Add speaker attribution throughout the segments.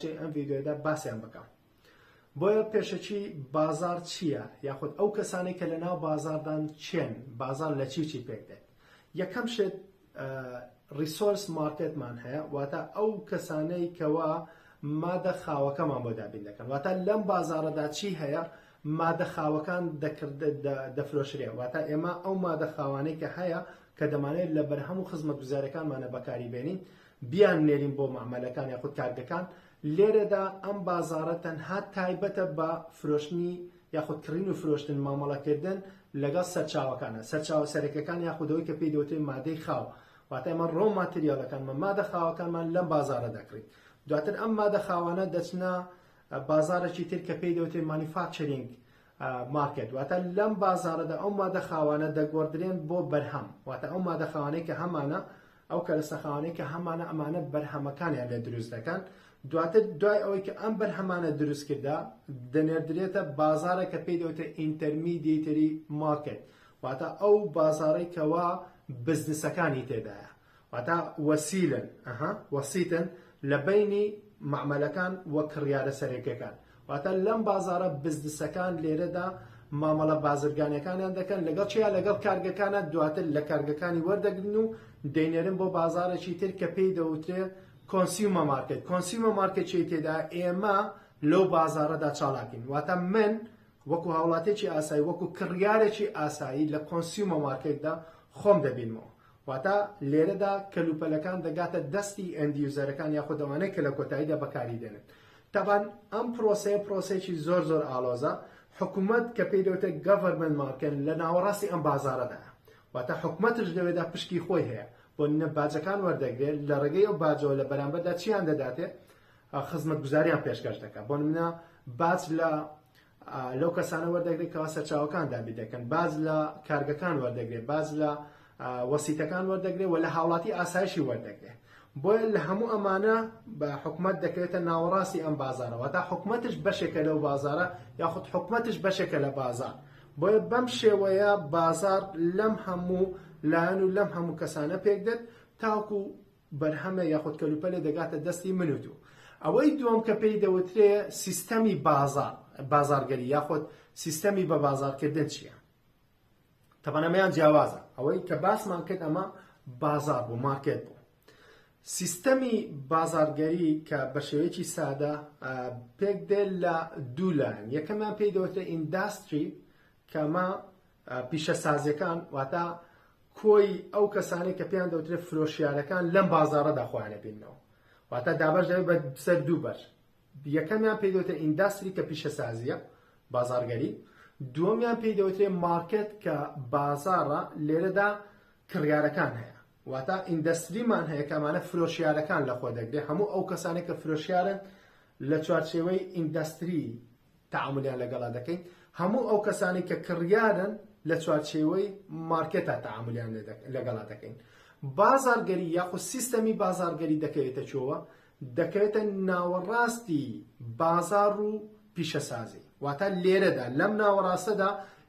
Speaker 1: درێژەی ئەم ڤیدیۆیەدا باسیان بکەم بۆیە پێشەکی بازار چییە یاخود ئەو کەسانی کە لەناو بازاردان چێن بازار لە چی چی پێک دێت یەکەم شێت ریسۆرس مارکتمان هەیە واتە ئەو کەسانەی کەوا مادە خاوەکەمان بۆ دابین دەکەن واتە لەم بازارەدا چی هەیە مادە خاوەکان دەکرد دەفرۆشرێ واتە ئێمە ئەو مادە خاوانەی کە هەیە کە دەمانێت لە بەرهەم و خزمەت گوزارەکانمانە بەکاری بێنین بیاننێرین بۆ مەعمەلەکان یاخود کارگەکان، لێرەدا ئەم بازاڕە تەنها تایبەتە بە فرۆشتنی یاخود کڕین و فرۆشتن، مامەڵەکردن لەگەڵ سەرچاوەکانە، سەرچاوە سەرەکیەکان یاخود ئەوەی کە پێی دەوترێت مادەی خاو، واتە ئێمە ڕۆ ماتریاڵەکانمان، مادە خاوەکانمان لەم بازاڕە دەکڕین، دواتر ئەم مادە خاوانە دەچنە بازاڕێکی تر کە پێی دەوترێت مانیفاکچەرینگ مارکێت، واتە لەم بازاڕەدا ئەو مادە خاوانە دەگۆڕدرێن بۆ بەرهەم، واتە ئەو مادە خاوانەی کە هەمانە ئەو کەرەسەخانەی کە هەمانە ئەمانە بەرهەمەکانیان لێ دروست دەکەن دواتر دوای ئەوەی کە ئەم بەرهەمانە دروست کردا دەنێردرێتە بازارە کە پێی دەوتە ئینتەرمیدیتری مارکت واتە ئەو بازارەی کەوا بزنسەکانی تێدایە واتە وەسیلن ئەها وەسیتن لە بینی معمەلەکان وە کڕیارە سەرەکیەکان واتە لەم بازارە بزنسەکان لێرەدا مامەڵە بازرگانیەکانیان دەکەن لەگەڵ چیا لەگەڵ کارگەکانە دواتر لە کارگەکانی وەردەگرن و دەینێرن بۆ بازارێکی تر کە پێی دەوترێ کۆنسیومە مارکت کۆنسیومە مارکەچی تێدا ئێمە لەو بازارەدا چاڵاکین واتە من وەکو هاوڵاتێکی ئاسایی وەکو کڕیارێکی ئاسایی لە کۆنسیومە مارکێکدا خۆم دەبینمەوە واتە لێرەدا کەلوپەلەکان دەگاتە دەستی ئەندیوزەرەکان یاخود ئەوانەی کە لە کۆتاییدا بەکاری دێنن تابان ئەم پرۆسەیە پرۆسێکی زۆر زۆر ئالۆزە حکوومەت کە پێی دەوتە گەڤەرمن مارکن لە ناوەڕاستی ئەم بازارەدا واتە حکوومەتش لەوێدا پشکی خۆی هەیە بۆ نە باجەکان وەردەگرێت لە ڕێگەی ئەو باجەوە لە بەرامبەردا چیان دەداتێ خزمەت گوزاریان پێشکەش دەکات بۆ منە باج لە لەو کەسانە وەردەگرێت کەوا سەرچاوەکان دابین دەکەن باز لە کارگەکان وەردەگرێت باز لە وەسیتەکان وەردەگرێت و لە هاوڵاتی ئاسایشی وەردەگرێت بۆیە لە هەموو ئەمانە بە حکومت دەکرێتە ناوەڕاستی ئەم بازارەوە تا حکومتش بەشێکە لەو بازارە یاخود حکومتش بەشێکە لە بازار بۆیە بەم شێوەیە بازار لەم هەموو لایەن و لەم هەموو کەسانە پێکدێت تاکو بەرهەمە یاخود کەلوپەلە دەگاتە دەستی من و تۆ. ئەوەی دووەم کە پێی دەوترێ سیستەمی بازاڕ، بازاڕگەری یاخود سیستەمی بە بازاڕکردن چییە؟ تەبەن ئەمەیان جیاوازە. ئەوەی کە باسمان کرد ئەمە بازاڕ بوو، مارکێت بوو. سیستەمی بازاڕگەری کە بە شێوەیەکی سادە پێک دێت لە دوو لایەن. یەکەمیان پێی دەوترێ ئینداستری کە ئەمە پیشەسازیەکان واتە کۆی ئەو کەسانەی کە پێیان دەوترێت فرۆشیارەکان لەم بازاڕەدا خۆیان ئەبیننەوە واتە دابەش دەبێت بە سەر دوو بەر یەکەمیان پێی دەوترێت ئینداستری کە پیشەسازیە بازاڕگەری دووەمیان پێی دەوترێت مارکت کە بازاڕە لێرەدا کڕیارەکان هەیە واتە ئیندەستریمان هەیە کە ئەمانە فرۆشیارەکان لە خۆ دەگرێت هەموو ئەو کەسانێک کە فرۆشیارن لە چوارچێوەی ئینداستری تەعامولیان لەگەڵا دەکەین هەموو ئەو کەسانەی کە کڕیارن لە چوارچێوەی مارکێتا تەعامولیان لەگەڵا دەکەین بازارگەری یاخود سیستەمی بازارگەری دەکەوێتە چۆوە دەکەوێتە ناوەڕاستی بازار و پیشەسازی واتا لێرەدا لەم ناوەڕاستەدا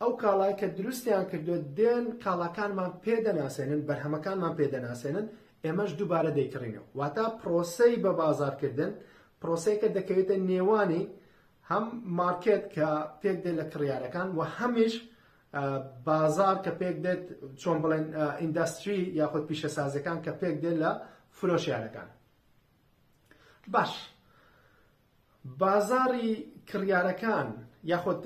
Speaker 1: ئەو کاڵای کە دروستیان کردووە دێن کاڵاکانمان پێ دەناسێنن بەرهەمەکانمان پێ دەناسێنن ئێمەش دووبارە دەیکڕینەوە واتا پرۆسەی بە بازارکردن پرۆسەیەکە دەکەوێتە نێوانی هەم مارکێت کە پێک دێت لە کڕیارەکان و هەمیش بازار کە پێک دێت چۆن بڵێن ئینداستری یاخود پیشەسازەکان کە پێک دێت لە فرۆشیارەکان باش بازاڕی کڕیارەکان یاخود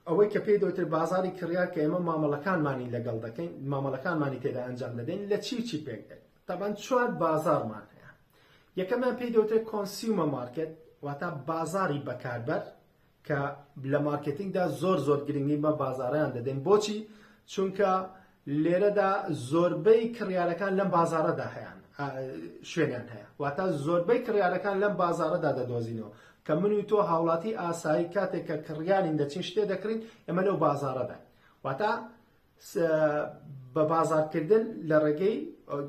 Speaker 1: ئەوەی کە پێی دەوترێت بازاری کڕیار کە ئێمە مامەڵەکانمانی لەگەڵ دەکەین مامەڵەکانمانی تێدا ئەنجام دەدەین لە چی و چی پێک دێت تەبەن چوار بازارمان هەیە یەکەمیان پێی دەوترێت کۆنسیومە مارکت واتا بازاری بەکاربەر کە لە مارکتینگدا زۆر زۆر گرنگی بە بازاریان دەدەین بۆچی چونکە لێرەدا زۆربەی کڕیارەکان لەم بازاڕەدا هەیان شوێنیان هەیە واتە زۆربەی کڕیارەکان لەم بازاڕەدا دەدۆزینەوە کە من و تۆ هاوڵاتی ئاسایی کاتێک کە کڕیارین دەچین شتێ دەکرین ئەمە لەو بازاڕەدا واتە بە بازارکردن لە ڕێگەی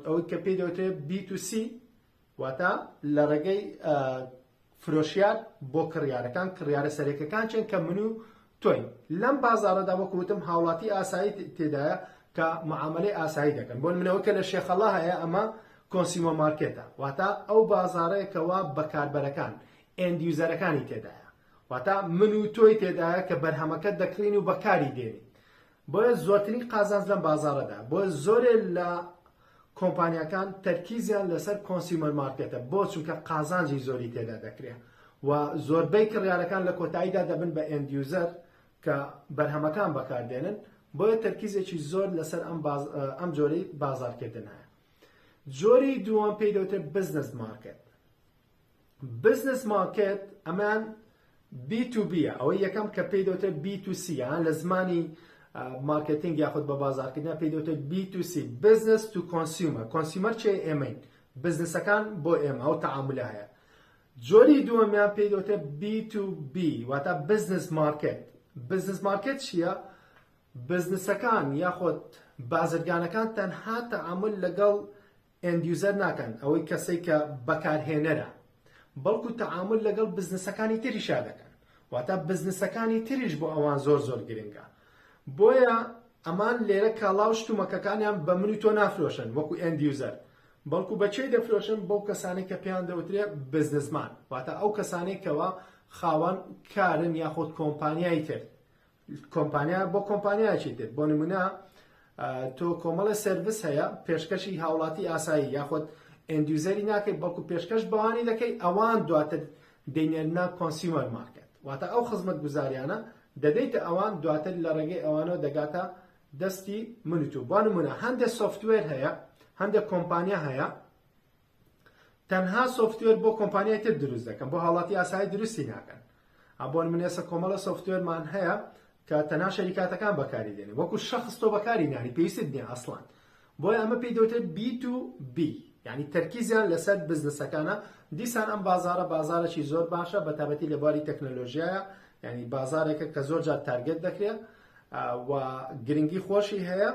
Speaker 1: ئەوەی کە پێی دەوترێت B2C واتە لە ڕێگەی فرۆشیار بۆ کڕیارەکان کڕیارە سەرێکەکان چێن کە من و تۆین لەم بازارەدا وەکو وتم هاوڵاتی ئاسایی تێدایە کە معاملەی ئاسایی دەکەن بۆ منەوە کە لە شێخەڵا هەیە ئەمە کۆنسیمۆ مارکێتە واتە ئەو بازارەیەکەوە بەکاربەرەکان ئەندیوزەرەکانی تێدایە واتە من و تۆی تێدایە کە بەرهەمەکە دەکڕین و بەکاری دێنین بۆیە زۆرترین قازانج لەم بازاڕەدایە، بۆیە زۆرێ لە کۆمپانیاکان تەرکیزیان لەسەر کۆنسیومەر مارکێتە، بۆ؟ چونکە قازانجی زۆری تێدا دەکرێ و زۆربەی کڕیارەکان لە کۆتاییدا دەبن بە ئێند یوزەر کە بەرهەمەکان بەکاردێنن، بۆیە تەرکیزێکی زۆر لەسەر ئەم باز ئەم جۆرەی بازاڕکردنایە. جۆری دووەم پێی دەوترێت بزنس مارکێت. بزنس مارکێت ئەمان بی تو بیە ئەوەی یەکەم کە پێی دەوتە بی تو سی یان لە زمانی مارکتینگ یاخود بە بازارکردنا پێی دەوتە بی تو سی بزنس تو کۆنسیومە کۆنسیومەر چێ ئێمەین بزنسەکان بۆ ئێمە ئەو تەعاملە هەیە جۆری دووەمیان پێی دەوتە بی تو بی واتە بزنس مارکت بزنس مارکت چییە؟ بزنسەکان یاخود بازرگانەکان تەنها تەعامل لەگەڵ End User ناکەن، ئەوەی کەسەی کە بەکارهێنەرە، بەڵکو تەعامول لەگەڵ بزنسەکانی تریشا دەکەن، واتە بزنسەکانی تریش بۆ ئەوان زۆر زۆر گرنگە، بۆیە ئەمان لێرە کاڵا و شتومەکەکانیان بە من و تۆ نافرۆشن وەکو End User، بەڵکو بە کێ دەفرۆشن بەو کەسانەی کە پێیان دەوترێ بزنسمان، واتە ئەو کەسانەی کەوا خاوەن کارن یاخود کۆمپانیای تر، کۆمپانیا بۆ کۆمپانیایەکی تر بۆ نمونە تۆ کۆمەڵە سرویس هەیە پێشکەشی هاوڵاتی ئاسایی یاخود ئەندیوزەری ناکەیت بەڵکو پێشکەش بەوانی دەکەی ئەوان دواتر دەینێنە کۆنسیومەر مارکت واتە ئەو خزمەت گوزاریانە دەدەیتە ئەوان دواتر لە ڕێگەی ئەوانەوە دەگاتە دەستی منوتو بۆ نمونە هەندێک سوفتوێر هەیە هەندێک کۆمپانیا هەیە تەنها سۆفتوێر بۆ کۆمپانیای تر دروست دەکەن بۆ هاوڵاتی ئاسایی دروستی ناکەن ئەبۆن منێسە کۆمەڵە سۆفتوێرمان هەیە کە تەنها شەریکاتەکان بەکاری دێنێ وەکو شخص تۆ بەکاری ناری پێویست نیە ئەسڵان بۆی ئەمە پێی دەوتێ بی تو بی یعنی تەرکیزیان لەسەر بزنسەکانە دیسان ئەم بازارە بازارەی زۆر باشە بە تابەتی لە باری تەکنەلۆژیایە یعنی بازارێکە کە زۆر جار تارگەت دەکرێت و گرنگی خۆشی هەیە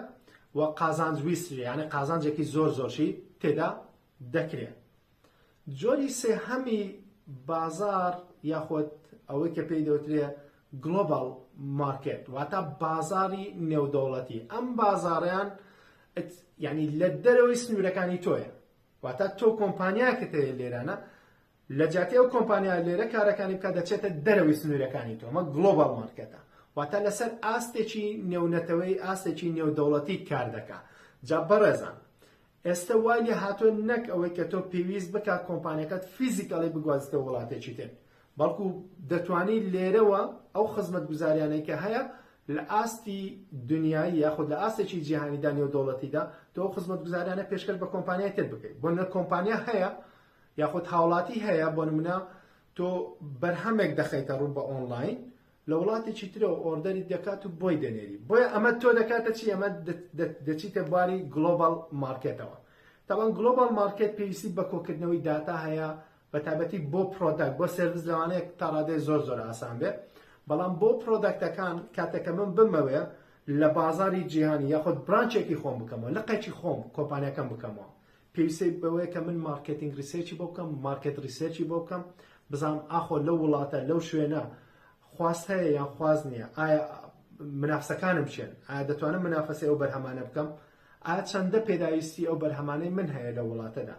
Speaker 1: و قازانج ویست یانە قازانجێکی زۆر زۆرشی تێدا دەکرێت جۆری سێهەمی بازار یاخود ئەوەی کە پێی دەوترێ گلۆبال مارکت واتە بازاری نێودەوڵەتی ئەم بازاریان ینی لە دەرەوەی سنوورەکانی تۆیە واتە تۆ کۆمپانیاکە تەیە لێرانە لە جیاتی ئەو کۆمپانیا لێرە کارەکانی بکە دەچێتە دەرەوەی سنوورەکانی تۆمە گلۆبال مارکەتە واتە لەسەر ئاستێکی نێونەتەوەی ئاستێکی نێودەوڵەتی کار دەکا جا بەڕێزان ئێستا وای لێ هاتۆ نەک ئەوەی کە تۆ پێویست بکە کۆمپانیەکەت فیزیکەڵی بگوازتە وڵاتێکی تر بەڵکو دەتوانی لێرەوە ئەو خزمەت گوزاریانەی کە هەیە لە ئاستی دنیای یاخود لە ئاستێکی جیهانیدا نێو دەوڵەتیدا تۆ خزمەت گوزاریانە پێشکەش بە کۆمپانیای تر بکەیت بۆ نە کۆمپانیا هەیە یاخود هاوڵاتی هەیە بۆ نمونە تۆ بەرهەمێک دەخەیتە ڕوو بە ئۆنلاین لە وڵاتێکی ترەوە ئۆردەری دەکات و بۆی دەنێری بۆیە ئەمە تۆ دەکاتە چی ئەمە دەچیتە بواری گلۆبال مارکێتەوە تاوان گلۆبال مارکێت پێویستی بە کۆکردنەوەی داتا هەیە بە تابەتی بۆ پرۆداکت بۆ سرویس لەوانەیە تا ڕادێ زۆر زۆر ئاسان بێت بەڵام بۆ پرۆداکتەکان کاتەکە من بمەوێ لە بازاری جیهانی یاخود برانچێکی خۆم بکەمەوە لە قەچی خۆم کۆمپانیەکەم بکەمەوە پێویستیت بەوەیە کە من مارکێتینگ ریسێرچی بۆ بکەم مارکێت ریسێرچی بۆ بکەم بزانم ئاخۆ لەو وڵاتە لەو شوێنە خواست هەیە یان خواست نییە ئایا منافسەکانم چێن ئایا دەتوانم منافەسی ئەو بەرهەمانە بکەم ئایا چەندە پێداویستی ئەو بەرهەمانەی من هەیە لە وڵاتەدا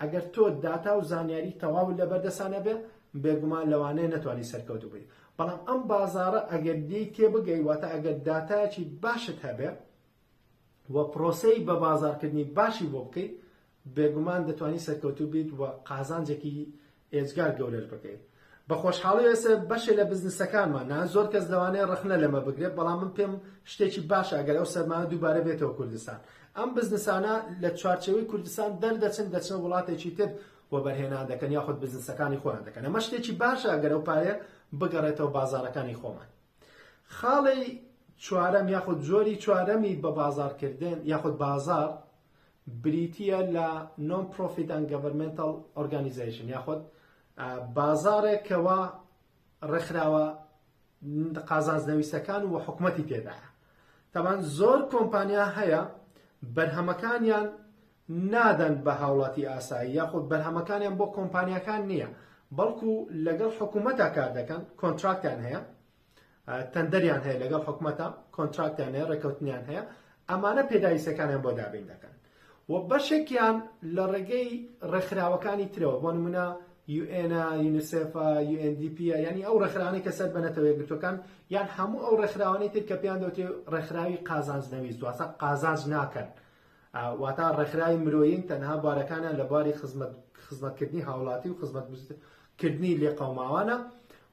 Speaker 1: ئەگەر تۆ داتا و زانیاری تەواو لە بەردەسانە بێ بێگومان لەوانەیە نەتوانانی سەرکەوتو بی بەڵام ئەم بازارە ئەگەر دی تێبگەی واتە ئەگەر داتایەکی باشت هەبێ و پرۆسەی بە بازاڕکردنی باشی بۆ بکەیت، بێگومان دەتوانی سەرکەوتوو بیت و قازانجێکی ئێجگار گەورەش بکەیت. بە خۆشحاڵی ئێسە بەشێ لە بزنسەکانمانە، زۆر کەس لەوانەیە ڕەخنە لەمە بگرێت، بەڵام من پێم شتێکی باشە ئەگەر ئەو سەرمایە دووبارە بێتەوە کوردستان. ئەم بزنسانە لە چوارچێوەی کوردستان دەردەچن، دەچنە وڵاتێکی تر وەبەرهێنان دەکەن یاخود بزنسەکانی خۆیان دەکەن. ئەمە شتێکی باشە ئەگەر ئەو پارەیە بگەڕێتەوە بازاڕەکانی خۆمان. خاڵی چوارەم یاخود جۆری چوارەمی بە بازاڕکردن یاخود بازار بریتیە لە نۆن پرۆفیت ئەن گەڤەرمێنتەڵ ئۆرگانیزەیشن یاخود بازارێک کەوا ڕێکخراوە قازانجنەویستەکان و حکومەتی تێدایە تەبان زۆر کۆمپانیا هەیە بەرهەمەکانیان نادەن بە هاوڵاتی ئاسایی یاخود بەرهەمەکانیان بۆ کۆمپانیاکان نییە بەڵکو لەگەڵ حکوومەتا کار دەکەن کۆنتراکتیان هەیە تەندەریان هەیە لەگەڵ حکوومەتا کۆنتراکتیان هەیە ڕێکەوتنیان هەیە ئەمانە پێداویستەکانیان بۆ دابین دەکەن و بەشێکیان لە ڕێگەی ڕێکخراوەکانی ترەوە بۆ نمونە یوئێنا یونیسفا UNDP ینی ئەو ڕێکخراوانەی کە سەر بەنەتەوە یەکگرتوەکان یان هەموو ئەو ڕێکخراوانەی تر کە پێیان دەوتێ ڕێکخراوی قازانجنەویست واتە قازانج ناکەن واتا ڕێکخراوی مرۆیین تەنها بارەکانیان لە باری خزمەت خزمەتکردنی هاوڵاتی و خزمەت کردنی لێ قەوماوانە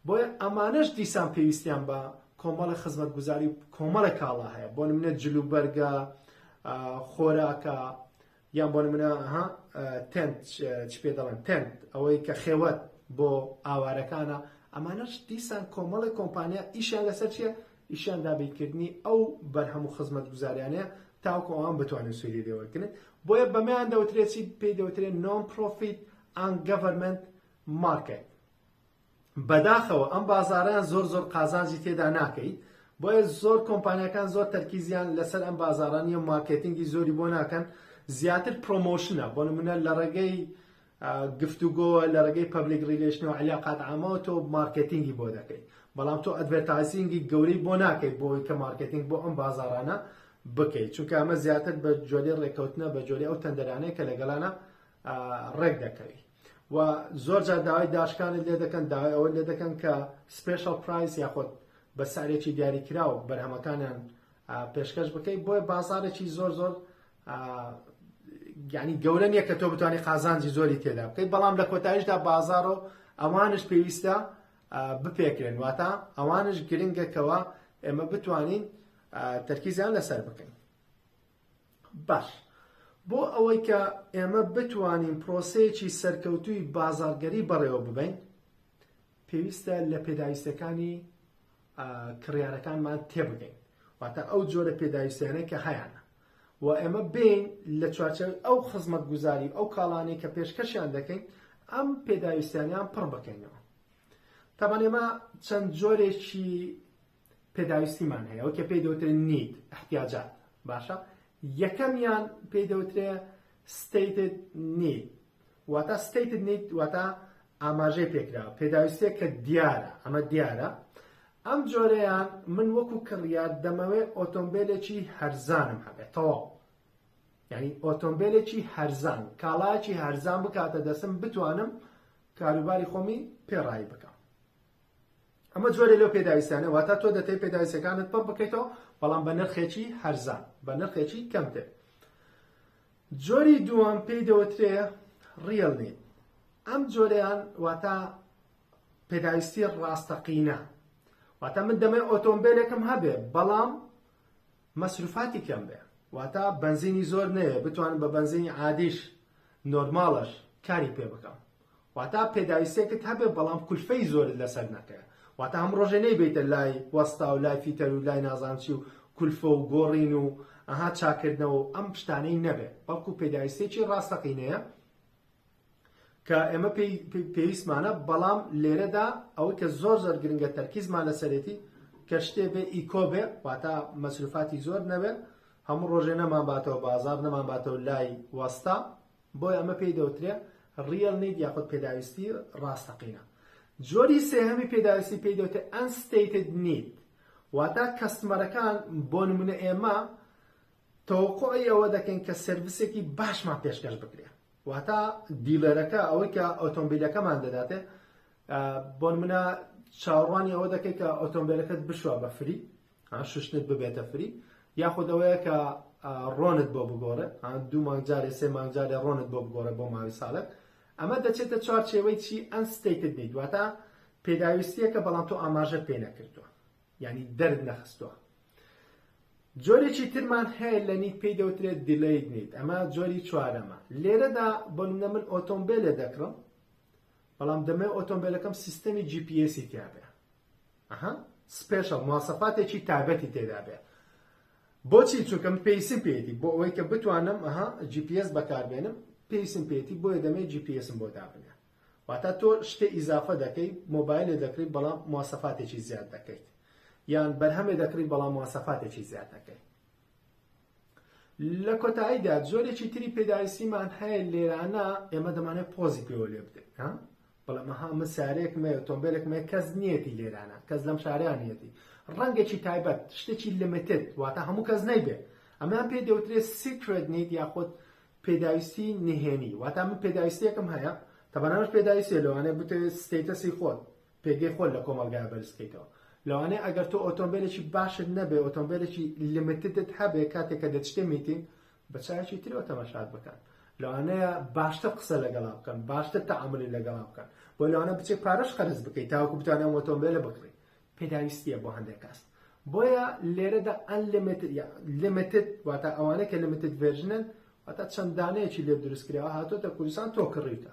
Speaker 1: بۆیە ئەمانەش دیسان پێویستیان بە کۆمەڵە خزمەت گوزاری و کۆمەڵە کاڵا هەیە بۆ منە جل و بەرگە خۆراکە یان بۆ منە ها تەند چ پێ دەڵێن تەند ئەوەی کە خێوەت بۆ ئاوارەکانە ئەمانەش دیسان کۆمەڵی کۆمپانیا ئیشیان لەسەر چیە ئیشیان دا بیرکردنی ئەو بەرهەم و خزمەتگوزاریانەیە تاوەکو ئەوان بتوانن سوودی لێ وەرگرن بۆیە بەمەیان دەوترێت چی پێی دەوترێت نۆن پرۆفیت ئان گەڤەرمنت مارکەت بەداخەوە ئەم بازاریان زۆر زۆر قازانجی تێدا ناکەی بۆیە زۆر کۆمپانیەکان زۆر تەرکیزیان لەسەر ئەم بازارانی و مارکتینگی زۆری بۆ ناکەن زیاتر پرۆمۆشنە بۆ نمونە لە ڕێگەی گفتوگۆ لە ڕێگەی پەبلیک ڕیلەیشن و عەلاقات عامەوە تۆ مارکێتینگی بۆ دەکەیت بەڵام تۆ ئەدڤێرتایزینگی گەورەی بۆ ناکەیت بۆ ئەوەی کە مارکێتینگ بۆ ئەم بازاڕانە بکەیت چونکە ئەمە زیاتر بە جۆری ڕێککەوتنە بە جۆری ئەو تەندەرانەیە کە لەگەڵانە ڕێک دەکەوی و زۆر جار داوای داشکانت لێ دەکەن داوای ئەوە لێ دەکەن کە سپێشڵ پرایس یاخۆت بە سارێکی دیاریکراوە بەرهەمەکانیان پێشکەش بکەیت بۆیە بازارێکی زۆر زۆر یعنی گەورە نییە کە تۆ بتوانانی قازانجی زۆری تێدا بکەیت بەڵام لە کۆتایشدا بازار و ئەوانش پێویستە بپێکرێن واتە ئەوانش گرنگەکەوە ئێمە بتوانین تەرکیزیان لەسەر بکەین باش بۆ ئەوەی کە ئێمە بتوانین پرۆسەیەکی سەرکەوتوی بازارگەری بەڕێوە ببین پێویستە لە پێداویستەکانی کڕیارەکانمان تێبگەین واتە ئەو جۆرە پێداویستیانەی کە هەیانە و ئێمە بین لە چوارچەوەی ئەو خزمەت گوزاری ئەو کاڵانەی کە پێشکەشیان دەکەین ئەم پێداویستیانیان پڕ بکەینەوە تامان ئێمە چەند جۆرێکی پێداویستیمان هەیە ئەو کە پێی دەوترێ نیت احتیاجات باشە یەکەمیان پێی دەوترێ ستیتد نیت واتە Stated Need واتە ئاماژەی پێکراوە پێداویستێک کە دیارە ئەمە دیارە ئەم جۆرەیان من وەکو کڕیار دەمەوێت ئۆتۆمبیلێکی هەرزانم هەبێت تەواو یعنی ئۆتۆمبیلێکی هەرزان کاڵایکی هەرزان بکاتە دەسم بتوانم کاروباری خۆمی پێڕایی بکەم ئەمە جۆرە لەو پێداویستانە واتە تۆ دەتەی پێداویستەکانت پڕ بکەیتەوە بەڵام بە نرخێکی هەرزان بە نرخێکی کەمتر جۆری دووەم پێی دەوترێ ڕیەڵنی ئەم جۆریان واتە پێداویستی ڕاستەقینە واتە من دەمەی ئۆتۆمبیلێکم هەبێ بەڵام مەسروفاتی کەم بێ واتە بنزینی زۆر نەیە بتوانم بە بنزینی عادیش نۆرماڵش کاری پێ بکەم واتا پێداویستێکت هەبێ بەڵام کولفەی زۆرت لەسەر نەکەێ واتا هەم ڕۆژێ نەیبیتە لای وەستا و لای فیتەر و لای نازانچی و کولفە و گۆڕین و ئەها چاکردنەوە و ئەم پشتانەی نەبێ بەڵکو پێداویستێکی ڕاستەقینەیە کە ئێمە پێویستمانە بەڵام لێرەدا ئەوە کە زۆر زۆر گرنگە تەرکیزمان لەسەرێتی کە شتێ بێ ئیکۆ بێ واتا مەسروفاتی زۆر نەبێت هەموو ڕۆژێ نەمان باتەوە بازار نەمان باتەوە لای وەستا بۆیە ئەمە پێی دەوترێ Real Need یاخود پێداویستی ڕاستەقینە جۆری سێهەمی پێداویستی پێی دەوتێ Unstated Need واتا کەستمەرەکان بۆ نمونە ئێمە تەوەقعی ئەوە دەکەین کە سرویسێکی باشمان پێشکەش بکرێ واتا دیلەرەکە ئەوەی کە ئۆتۆمبیلەکەمان دەداتێ بۆ منە چاڕوانی ئەوە دەکەیت کە ئۆتۆمبیلەکەت بشوە بە فری ها شوشتنت ببێتە فری یاخود ئەوەیە کە ڕۆنت بۆ بگۆڕێ دوو مانگ جارێ سێ مانگ جارێ ڕۆنت بۆ بگۆڕێ بۆ ماوەی ساڵێک ئەمە دەچێتە چوارچێوەی چی ئەنستەیتت نیت واتە پێداویستیەکە بەڵام تۆ ئاماژە پێ نەکردووە یعنی دەرد نەخستووە جۆرێکی ترمان هەیە لە نیت پێی دەوترێت دیلیت نیت ئەمە جۆری چوارەمە لێرەدا بۆ نە من ئۆتۆمبیلێ دەکڕم بەڵام دەمەوێت ئۆتۆمبێلەکەم سیستەمی جی پی ئێسی تیابێ ئەها سپێشەڵ مواسەفاتێکی تابەتی تێدابێ بۆچی چونکەم پێیسم پێێتی بۆ ئەوەی کە بتوانم ئەها جی پی ئێس بەکاربێنم پێیسم پێێتی بۆیە دەمەوێت جی پی ئێسم بۆ دابنێ واتە تۆ شتێ ئیزافە دەکەی مۆبایلێ دەکرێت بەڵام مواسەفاتێکی زیاد دەکەیت یان بەرهەمێ دەکرێت بەڵام مواسەفاتێکی زیاد دەکەیت لە کۆتاییدا جۆرێکی تری پێداویستیمان هەیە لێرانە ئێمە دەمانێت پۆزی پێوە لێ بدەین ها بەڵام ها من سارێکم ئۆتۆمبیلێک مێ کەس نیەتی لێرانە کەس لەم شاریانەتی ڕەنگێکی تایبەت شتێکی لمتت واتە هەموو کەس نەیبێت ئەمان پێ دەوترێت سیکرێت نیت یاخود پێداویستی نهێنی واتە من پێداویستێکم هەیە تەبەنەش پێداویستێ لەوانێ بتێ ستەتەسی خۆت پێگەی خۆت لە کۆمەڵگایا بەرز بکەیتەوە لەوانەیە ئەگەر تۆ ئۆتۆمبیلێکی باشت نەبێ ئۆتۆمبیلێکی لمتتت هەبێ کاتێک کە دەچتێ میتین بە چاوێکی ترەوە تەماشات بکەن لەوانەیە باشتر قسە لەگەڵا بکەن باشتر تەعاملی لەگەڵا بکەن بۆ لەوانە بچێت پارەش قەرز بکەیت تاوەکو بتوانێت ئەم ئۆتۆمبیلە بکڕی پێداویستیە بۆ هەندێک کەس بۆیە لێرەدا ئەنلیمیتد لیمیتد واتە ئەوانە کە لیمیتد ڤێرژنن واتە چەندانەیەکی لێ دروستکراوە هاتۆتە کوردستان تۆ کڕیتە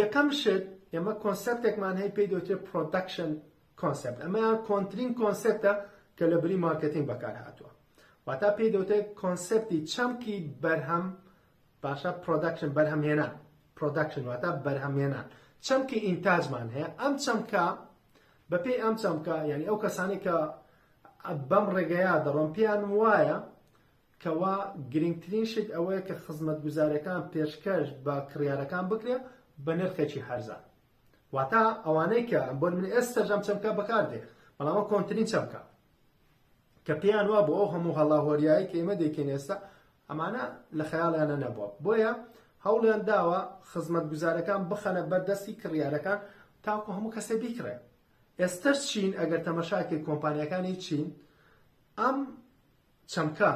Speaker 1: یەکەم شت ئێمە کۆنسپتێکمان هەیە پێی دەوترێت پرۆدەکشن کۆنسپت ئەمە کۆنترین کۆنسپتە کە لە بری مارکتینگ بەکار هاتووە واتا پێی دەوتێت کۆنسپتی چەمکی بەرهەم باشە پرۆدەکشن بەرهەمێنان پرۆدەکشن واتا بەرهەمێنان چەمکی ئینتاجمان هەیە ئەم چەمکە بەپێی ئەم چەمکە یعنی ئەو کەسانی کە بەم ڕێگەیە دەڕۆم پێیان وایە کەوا گرنگترین شت ئەوەیە کە خزمەتگوزاریەکان پێشکەش بە کڕیارەکان بکرێت بە نرخێکی هەرزان واتا ئەوانەی کە بۆن من ئێستا جەم چەمکە بەکاردێ بەڵامە کۆنترین چەمکە کە پێیان وا بۆ ئەو هەموو هەڵاهۆریایی کە ئێمە دەکەین ئێستا ئەمانە لە خەیاڵیانە نەبووە بۆیە هەوڵیان داوە خزمەت گوزارەکان بخەنە بەردەستی کڕیارەکان تاکو هەموو کەسێ بیکڕێ ئێستەر چین ئەگەر تەمەشاکەی کۆمپانیەکانی چین ئەم چەمکە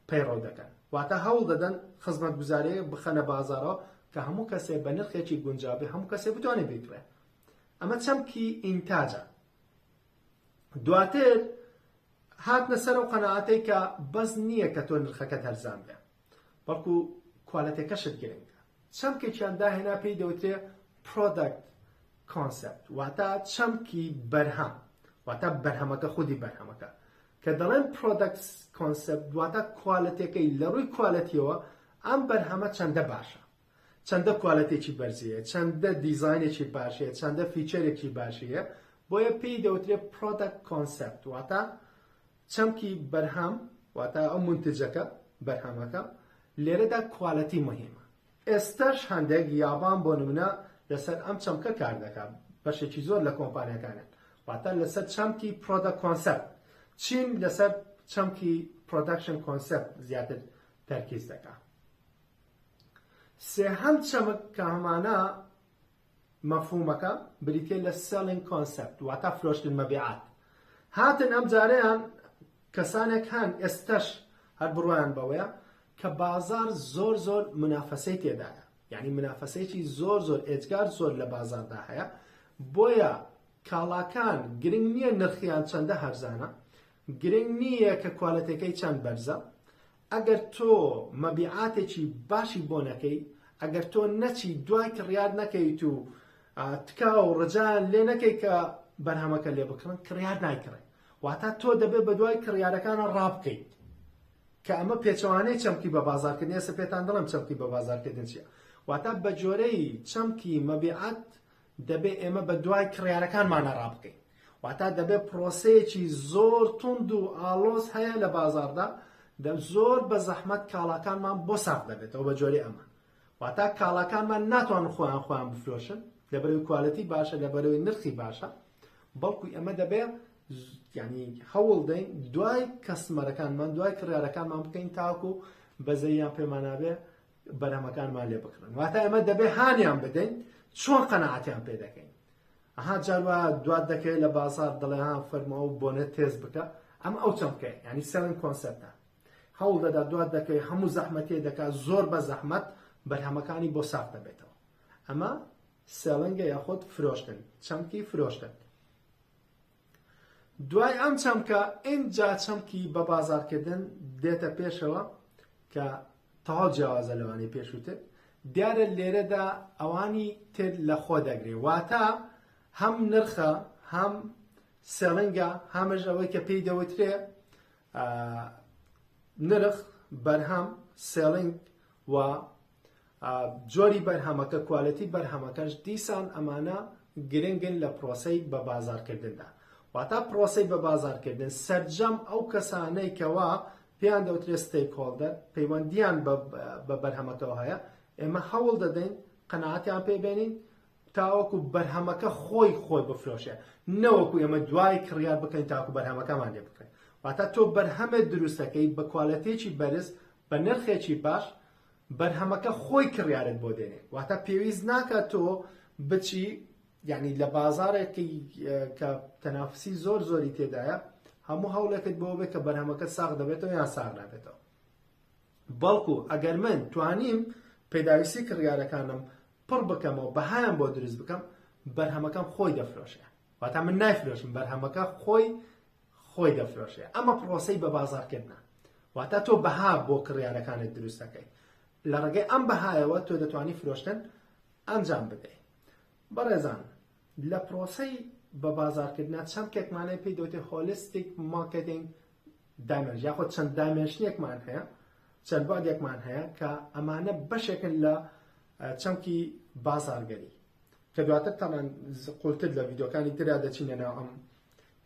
Speaker 1: پەیڕەو دەکەن، واتە هەوڵ دەدەن خزمەتگوزارییەک بخەنە بازاڕەوە کە هەموو کەسێ بە نرخێکی گونجاو بێ هەموو کەسێ بتوانێ بیکڕێ. ئەمە چەمکی ئینتاجە. دواتر هاتنە سەر ئەو قەناعەتەی کە بەس نییە کە تۆ نرخەکەت هەرزان بێ. بەڵکو کوالێتێکەشت گرنگە. چەمکێکیان داهێنا پێی دەوترێ Product Concept واتە چەمکی بەرهەم واتە بەرهەمەکە خودی بەرهەمەکە کە دەڵێن Product Concept واتە کوالێتەکەی لە ڕووی کوالێتیەوە ئەم بەرهەمە چەندە باشە چەندە کوالێتێکی بەرزەیە چەندە دیزاینێکی باشەیە چەندە فیچەرێکی باشەیە بۆیە پێی دەوترێ Product Concept واتە چەمکی بەرهەم واتە ئەو مونتجەکە، بەرهەمەکە، لێرەدا کوالێتی موهیمە. ئێستاش هەندێک، یابان بۆ نمونە، لەسەر ئەم چەمکە کار دەکات، بەشێکی زۆر لە کۆمپانیاکانیان، واتە لەسەر چەمکی پرۆدەکت کۆنسێپت. چین لەسەر چەمکی پرۆدەکشن کۆنسێپت زیاتر تەرکیز دەکات. سێهەم چەمک کە هەمانە، مەفهوومەکە بریتیە لە Selling Concept واتا فرۆشتن مەبیعات هاتن ئەم جارەیان کەسانێک هەن ئێستەش هەر بڕوایان بەوەیە کە بازار زۆر زۆر منافەسەی تێدایە یعنی منافەسەیەکی زۆر زۆر ئێجگار زۆر لە بازاردا هەیە بۆیە کاڵاکان گرنگ نییە نرخیان چەندە هەرزانە گرنگ نییە کە کوالەتەکەی چەند بەرزە ئەگەر تۆ مەبیعاتێکی باشی بۆ نەکەی، ئەگەر تۆ نەچی دوای کڕیار نەکەیت و تکا و ڕجایان لێ نەکەی کە بەرهەمەکە لێ بکڕن، کڕیار نایکڕێ. واتا تۆ دەبێ بە دوای کڕیارەکانە ڕابکەیت. کە ئەمە پێچەوانەی چەمکی بە بازاڕکردن، ئێستا پێتان دەڵێم چەمکی بە بازاڕکردن چییە. واتا بە جۆرەی چەمکی مەبیعات دەبێ ئێمە بە دوای کڕیارەکانمانە ڕابکەین، واتە دەبێ پرۆسەیەکی زۆر توند و ئاڵۆز هەیە لە بازاڕدا، زۆر بە زەحمەت کاڵاکانمان بۆ ساغ دەبێتەوە بە جۆرێ ئەمە. واتە کاڵاکانمان ناتوانن خۆیان خۆیان بفرۆشن لەبەرەوەی کوالێتی باشە لەبەرەوەی نرخی باشە، بەڵکو ئێمە دەبێ یعنی هەوڵ دەین دوای کەستمەرەکانمان دوای کڕیارەکانمان بکەین تاکو بەزەییان پێمانابێ بەرهەمەکانمان لێ بکڕن واتە ئەمە دەبێ هانیان بدەین چۆن قەنەعاتیان پێ دەکەین ئەها جاروا دوات دەکەێت لە بازار دڵێیان فەرمەوە و بۆنە تێز بکە ئەم ئەو چەمکە ینی سەرن کۆنسەرتە هەوڵ دەدا دوات دەکەی هەموو زەحمەتێ دەکات زۆر بە زەحمەت بەرهەمەکانی بۆ ساف دەبێتەوە ئەمە سەلنگە یاخۆت فرۆشتن چەمکی فرۆشتن دوای ئەم چەمکە ئینجا چەمکی بە بازاڕکردن دێتە پێشەوە کە تەواو جیاوازە لەوانی پێشووتر دیارە لێرەدا ئەوانی تر لە خۆ دەگرێ واتە هەم نرخە هەم سێڵنگە هەمەش ئەوەی کە پێی دەوترێ نرخ بەرهەم سێڵنگ و جۆری بەرهەمەکە کوالێتی بەرهەمەکەش دیسان ئەمانە گرنگن لە پرۆسەی بە بازارکردندا واتا پرۆسەی بە بازارکردن سرجەم ئەو کەسانەی کەوا پێیان دەوترێت ستیک هۆڵدەر پەیوەندیان بە بەرهەمەکەەوە هەیە ئێمە هەوڵ دەدەین قەنەعاتیان پێبێنین تاوەکو بەرهەمەکە خۆی خۆی بفرۆشێ نەوەکو ئێمە دوای کڕیار بکەین تاکو بەرهەمەکەمان لێ بکەین واتا تۆ بەرهەمێ دروستەکەی بە کوالەتێکی بەرز بە نرخێکی باش بەرهەمەکە خۆی کڕیارت بۆ دێنێ واتە پێویست ناکات تۆ بچی یعنی لە بازارێکی کە تەنافسی زۆر زۆری تێدایە هەموو هەوڵێکت بۆ بێت کە بەرهەمەکە ساغ دەبێتەوە یان ساغ نابێتەوە بەڵکو ئەگەر من توانیم پێداویستی کڕیارەکانم پڕ بکەمەوە بەهایان بۆ دروست بکەم بەرهەمەکەم خۆی دەفرۆشە واتا من نایفرۆشم بەرهەمەکە خۆی خۆی دەفرۆشێ ئەمە پڕۆسەی بە بازاڕکردنە واتە تۆ بەها بۆ کڕیارەکانت دروست دەکەیت لە ڕێگەی ئەم بەهایەوە تۆ دەتوانی فرۆشتن ئەنجام بدەیت بەڕێزان لە پرۆسی بە بازارکردنا چەند کێکمانەی پێی دەوتێ هۆلستیک مارکتینگ دامێژ یاخۆ چەند دامێژنێکمان هەیە چەند بادێکمان هەیە کە ئەمانە بەشێکن لە چەمکی بازارگەری کە دواتر تامان قولتر لە ویدۆکانی تررا دەچینە ناو ئەم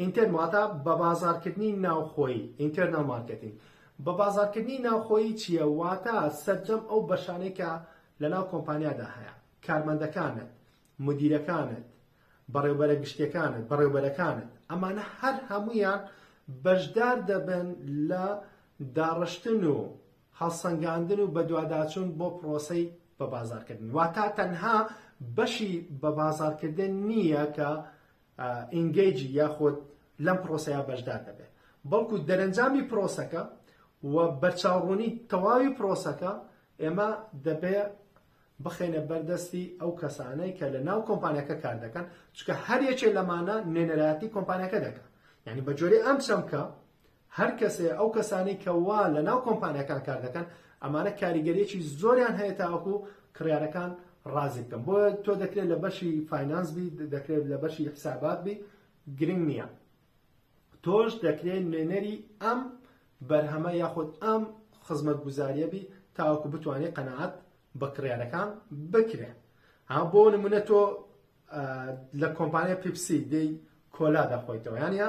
Speaker 1: ئینتێرن واتە بە بازاڕکردنی ناوخۆیی، Internal Marketing، بە بازاڕکردنی ناوخۆیی چییە؟ واتە سەرجەم ئەو بەشانەی کە لەناو کۆمپانیادا هەیە، کارمەندەکانت، مودیرەکانت، بەڕێوبەرە گشتیەکانت، بەڕێوبەرەکانت، ئەمانە هەر هەموویان بەشدار دەبن لە داڕشتن و هەڵسەنگاندن و بەدواداچوون بۆ پڕۆسەی بەبازاڕکردن، واتە تەنها بەشی بەبازاڕکردن نییە کە ئینگەیجی یاخود لەم پرۆسەیە بەشدار دەبێت بەڵکو دەرەنجامی پرۆسەکە و بەرچاوڕوونی تەواوی پرۆسەکە ئێمە دەبێ بخەینە بەردەستی ئەو کەسانەی کە لە ناو کۆمپانیەکە کار دەکەن چکە هەر یەکێ لەمانە نوێنەرایەتی کۆمپانیەکە دەکە یعنی بە جۆری ئەم چەمکە هەر کەسێ ئەو کەسانەی کە وا لە ناو کۆمپانیاکان کار دەکەن ئەمانە کاریگەریەکی زۆریان هەیە تاوەکو کڕیارەکان ڕازی بکەم بۆ تۆ دەکرێت لە بەشی فینانس بی دەکرێت لە بەشی حسابات بی گرنگ نییە تۆش دەکرێت نوێنەری ئەم بەرهەمە یاخود ئەم خزمەت گوزاریە بی تاوەکو بتوانێت قەنەعات بە کڕیارەکان بکرێ ها بۆ نمونە تۆ لە کۆمپانیا پیپسی دەی کۆلا دەخۆیتەوە یانە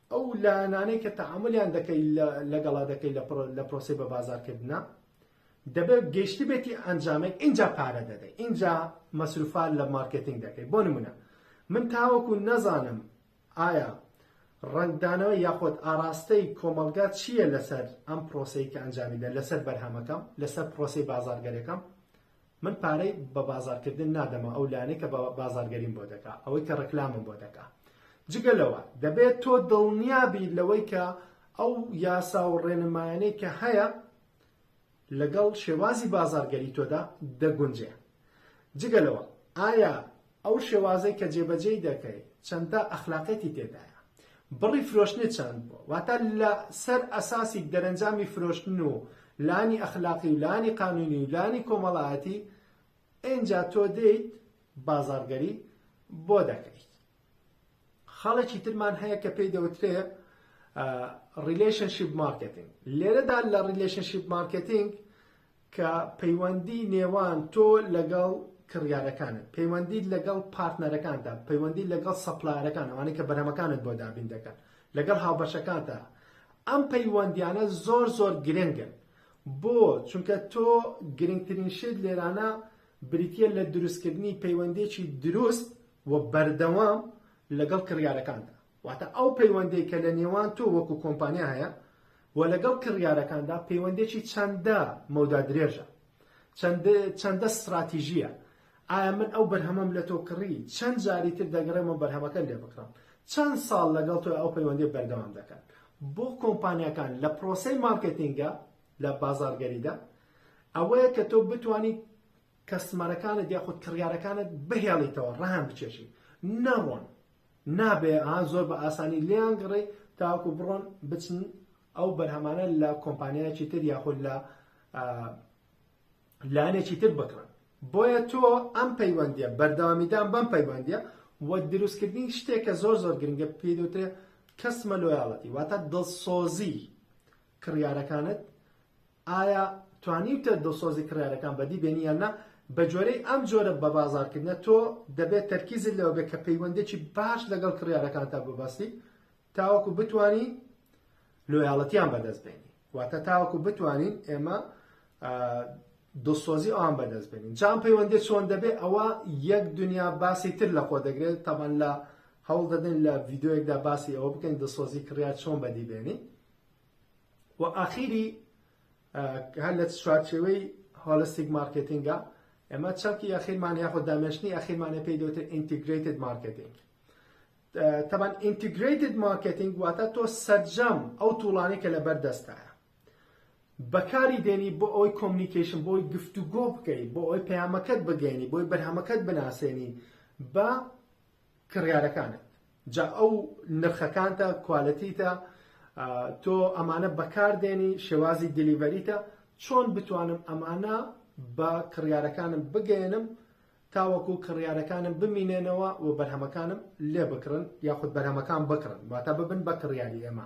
Speaker 1: ئەو لایەنانەی کە تەعامولیان دەکەی لەگەڵا دەکەی لە پرۆسی بە بازارکردە دەبێت گەشتبێتی ئەنجامێک ئینجا پارە دەدەی ئینجا مەسروفان لە مارکتنگ دەکەی بۆ نمونە من تاوەکو نەزانم ئایا ڕنگدانەوە یاخۆت ئاراستەی کۆمەلگا چییە لەسەر ئەم پرۆسی کە ئەنجامی دە لەسەر بەرهەمەکەم لەسەر پرۆسی بازارگەرەکەم من پارەی بە بازارکردن نادەمە ئەو لانەی کە بازارگەریم بۆ دەکا ئەوەی کە ڕکلامم بۆ دەکا جگە لەوە دەبێت تۆ دڵنیابی لەوەی کە ئەو یاسا و ڕێنمایانەی کە هەیە لەگەڵ شێوازی بازارگەری تۆدا دەگونجێ جگە لەوە ئایا ئەو شێوازەی کە جێبەجێی دەکەی چەندە ئەخلاقیەتی تێدایە بڕی فرۆشتنت چەند بووە واتە لە سەر ئەساسی دەرەنجامی فرۆشتن و لانی ئەخلاقی و لانی قانونی و لانی کۆمەڵایەتی ئینجا تۆ دێیت بازاڕگەری بۆ دەکەیت خاڵێکی ترمان هەیە کە پێی دەوترێ ریلشنشیپ مارکتنگ لێرەدا لە ریلشنشیپ مارکتنگ کە پەیوەندی نێوان تۆ لەگەڵ کڕیارەکانت، پەیوەندیت لەگەڵ پارتنەرەکانتدا، پەیوەندیت لەگەڵ سەپلایەرەکان، ئەوانەی کە بەرهەمەکانت بۆ دابین دەکەن، لەگەڵ هاوبەشەکانتدا، ئەم پەیوەندیانە زۆر زۆر گرنگن. بۆ؟ چونکە تۆ گرنگترین شت لێرانە بریتییە لە دروستکردنی پەیوەندییەکی دروست و بەردەوام لەگەڵ کڕیارەکاندا. واتە ئەو پەیوەندەی کە لە نێوان تۆ وەکو کۆمپانیا هەیە و لەگەڵ کڕیارەکاندا پەیوەندێکی چەندە مەودا درێژە چەندە ستراتیژیە ئایا من ئەو بەرهەمەم لە تۆ کڕی چەند جاری تر دەگەڕێمە بەرهەمەکە لێ بکڕم چەند ساڵ لەگەڵ تۆ ئەو پەیوەندی بەردەوام دەکەن بۆ کۆمپانیەکان لە پرۆسی مارکتینگە لە بازارگەریدا ئەوەیە کە تۆ بتانی کەسمەرەکانت یاخود کڕیارەکانت بهێڵیتەوە ڕەهان بچێشی نەڕۆن نابێ ها زۆر بە ئاسانی لێیان گڕی تاوەکو بڕۆن بچن ئەو بەرهەمانە لە کۆمپانیایەکی تر یاخود لە لانێکی تر بکڕن بۆیە تۆ ئەم پەیوەندیە بەردەوامیدان بەم پەیوەندیە و دروستکردنی شتێک کە زۆر زۆر گرنگە پێدوترێ کەسمە لۆیاڵەتی واتە دڵسۆزی کڕیارەکانت ئایا توانیوتە دڵسۆزی کڕیارەکان بەدی بێنی یان نا؟ بەگوێرەی ئەم جۆرە بەبازاڕکردنە تۆ دەبێت تەرکیزت لەوە بێت کە پەیوەندێکی باش لەگەڵ کڕیارەکانتا ببەستی تاوەکو بتانی لۆیاڵەتیان بەدەست بێنی واتە تاوەکو بتوانین ئێمە دڵسۆزی ئەوان بەدەست بێنین جام پەیوەندی چۆن دەبێت ئەوە یەک دنیا باسی تر لە خۆ دەگرێت تەمان لە هەوڵ دەدەین لە ڤیددیوەکدا باسی ئەوە بکەین دڵسۆزی کڕیار چۆن بەدی بێنی و ئاخیری هەر لە چوارچێوەی هۆلستیک مارکێتینگە ئێمە چەکی ئەخیرمان یاخۆ دامێشتنی ئەخیرمانە پێی دەوتر ئینتیگریتد مارکێتینگ تەبان ئینتیگریتد مارکێتینگ واتە تۆ سەرجەم ئەو توڵانی کە لە بەردەستایە بەکاری دێنی بۆ ئەوی کۆمنیکیشن بۆی گفتوگۆ بکەی بۆ ئەوی پەیامەکەت بگەینی بۆی بەرهەمەکەت بناسێنی بە کڕیارەکانت جا ئەو نرخەکانتە کوالێتیتە تۆ ئەمانە بەکاردێنی شێوازی دیلیڤەریتە چۆن بتوانم ئەمانە بە کڕیارەکانم بگەێنم تاوەکو کڕیارەکانم بمینێنەوە و بەرهەمەکانم لێ بکڕن یاخود بەرهەمەکان بکڕن واتە ببن بە کڕیاری ئێمە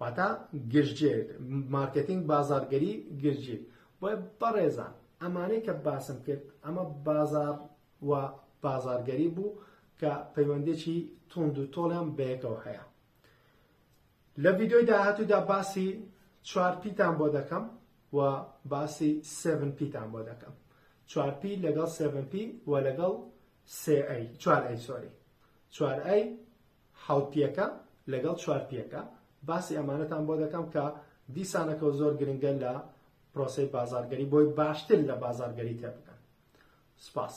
Speaker 1: واتا گشتگیر مارکێتینگ بازاڕگەری گشتگیر بۆیە بەڕێزان ئەمانەی کە باسم کرد ئەمە بازار و بازارگەری بوو کە پەیوەندێکی توند و تۆڵیان بەیەکەوە هەیە لە ڤیددیۆی داهاتوودا باسی چوار پیتان بۆ دەکەم و باسی سێڤن پیتان بۆ دەکەم چوار پی لەگەڵ سێڤن پی و لەگەڵ سێ ئەی چوار ئەی سۆری چوار ئەی حەوت پێکە لەگەڵ چوار پێکە باسی ئەمانەتان بۆ دەکەم کە دیسانەکەو زۆر گرنگە لە پرۆسەی بازارگەری بۆی باشتر لە بازارگەری تێبگەن سپاس.